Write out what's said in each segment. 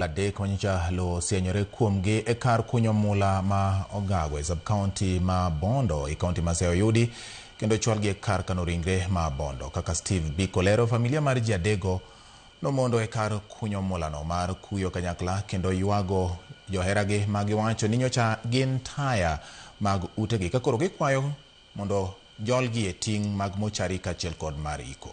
adek ma nyocha lowo osienyore kuomgi e kar kunyo mula ma Ogago e sub-county ma Bondo e county ma Siaya oyudi kendo ochwalgi e kar kano ringre ma Bondo. Kaka Steve Biko lero, familia mar ji adego nomondo e kar kunyo mulano mar kuyo kanyakla kendo ywago joheragi ma giwacho ni nyocha gin taya mag utegi ka koro gikwayo mondo jolgi e ting' mag mochari kachiel kod mar iko.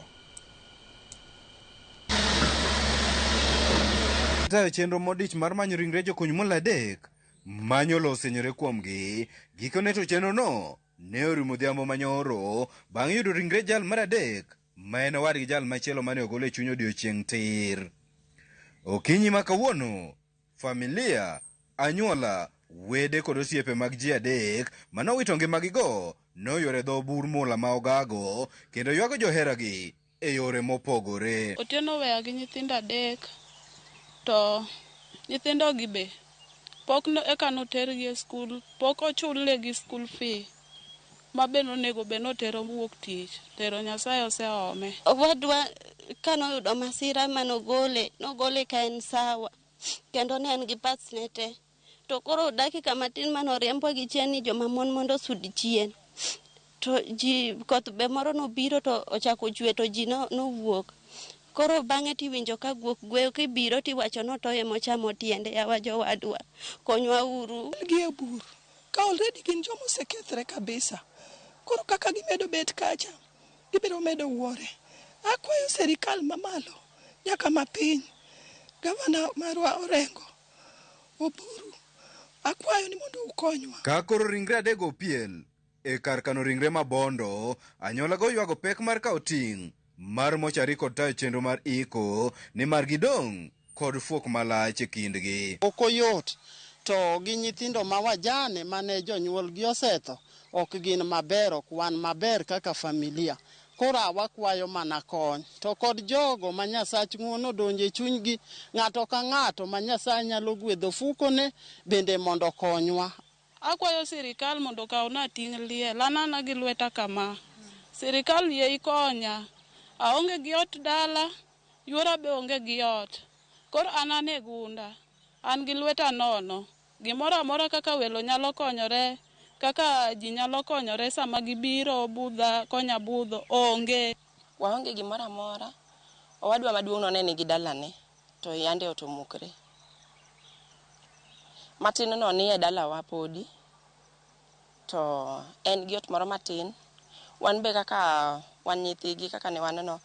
Tayo chenro modich mar manyo ringre jokuny mula adek ma nyolo osenyore kuomgi. Gikone to chenrono ne orumo odhiambo ma nyoro bang' yudo ringre jal mar adek ma en owadgi jal machielo mane ogol e chuny odiechieng' tir. Okinyi ma kawuono, Familia, anyuola, wede kod osiepe mag ji adek ma nowito ngimagigo noywero e dho bur mula ma Ogago kendo ywago joheragi e yore mopogore. Otieno oweya gi nyithindo adek to nyithindogi be pok eka notergi e skul, pok ochulnegi skul fee. ma be nonego bed ni otero wuok tich, pero Nyasaye oseome. Owadwa ka noyudo masira ma nogole, nogole ka en sawa kendo ne en gi parts ne te. To koro dakika matin mane oriembwa gi chien ni joma mon mondo osud chien, to ji koth be moro nobiro to ochako ochwe to ji no- nowuok. Koro bang'e tiwinjo ka guok gweyo kibiro tiwacho ni otoyo emochamo tiende. Yawa jowadwa, konywa uru. Gi e bur. Ka already gin joma osekethre kabisa, koro kaka gimedo bet kacha, gibiro medo wuore. Akwayo serikal mamalo nyaka mapiny, Gavana marwa Orengo, Oburu, akwayo ni mondo ukonywa. Ka koro ringre adekgo opiel e kar kano ringre ma Bondo, anyuolago ywago pek mar kawo ting' mar mochari kod tayo chenro mar iko nimar gidong' kod fuok malach e kindgi. Ok oyot. To gi nyithindo ma wajane ma ne jonyuolgi osetho, ok gin maber, ok wan maber kaka familia. Koro a wakwayo mana kony. To kod jogo ma Nyasach ng'uono odonjo e chunygi, ng'ato ka ng'ato ma Nyasaye nyalo gwedho ofukone, bende mondo okonywa. Akwayo sirikal mondo okawna ting' liel, an ana gi lweta kama. Sirikal yie ikonya. Aonge gi ot dala. Yuora be onge gi ot. Koro an an e gunda. An gi lweta nono. Gimoro amora kaka welo nyalo konyore, kaka ji nyalo konyore sama gibiro budha konya budho, onge. Waonge gimoro amora. Owadwa maduong'no ne nigi dalane, to yande ot omukre. Matinno ni e dalawa podi. To en gi ot moro matin. Wan be kaka wan nyithigi kaka ne wan no,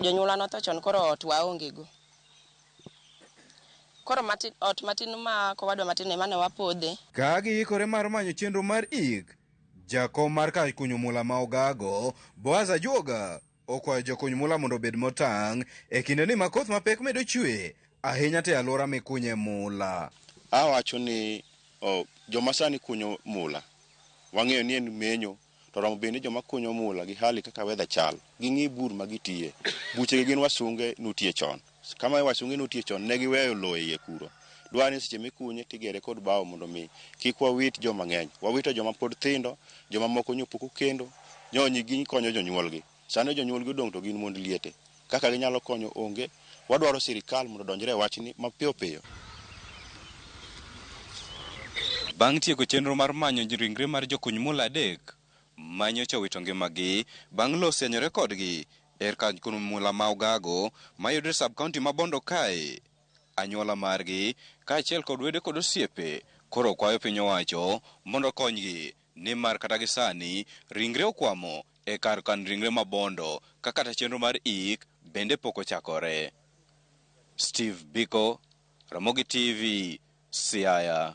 jonyuolwa notho chon koro ot waonge go. Koro matin ot matin ma kowadwa matin ema ne wapodhe. Ka giikore mar manyo chenro mar ik, jakom mar kar kunyo mula ma Ogago, Boaz Ajuoga, Okwayo jokuny mula mondo obed motang' e kinde ni ma koth mapek medo chwe ahinya to e alwora mikunye mula. Awacho ni oh, joma sani kunyo mula wang'eyo ni en menyo to romo bende joma kunyo mula gi hali kaka weather chal ging'i bur ma gitiye. Buchegi gin wasunge nutie chon. Kama e wacho ng'e notie chon ne giweyo lowo e iye kuro. Dwa ni seche mikunye tigere kod bao mondo mi kik wawit joma ng'eny. Wawito joma pod thindo, joma moko nyo pok okendo, nyo nyi gikonyo jonyuolgi. Sani jonyuolgi odong' to gin mond liete. Kaka ginyalo konyo onge. Wadwaro sirikal mondo odonjre e wachni mapiyo piyo. Bang' tieko chenro mar manyo ringre mar jokuny mula adek, ma nyocha owito ngimagi bang' lowo osianyore kodgi er kar kuno mula ma Ogago mayudore e sub-county ma Bondo kae. Anyuola margi kaachiel kod wede kod osiepe koro kwayo piny owacho mondo okonygi nimar kata gi sani ringre okwamo e kar kan ringre ma Bondo ka kata chenro mar ik bende pok ochakore. Steve Biko, Ramogi TV, Siaya.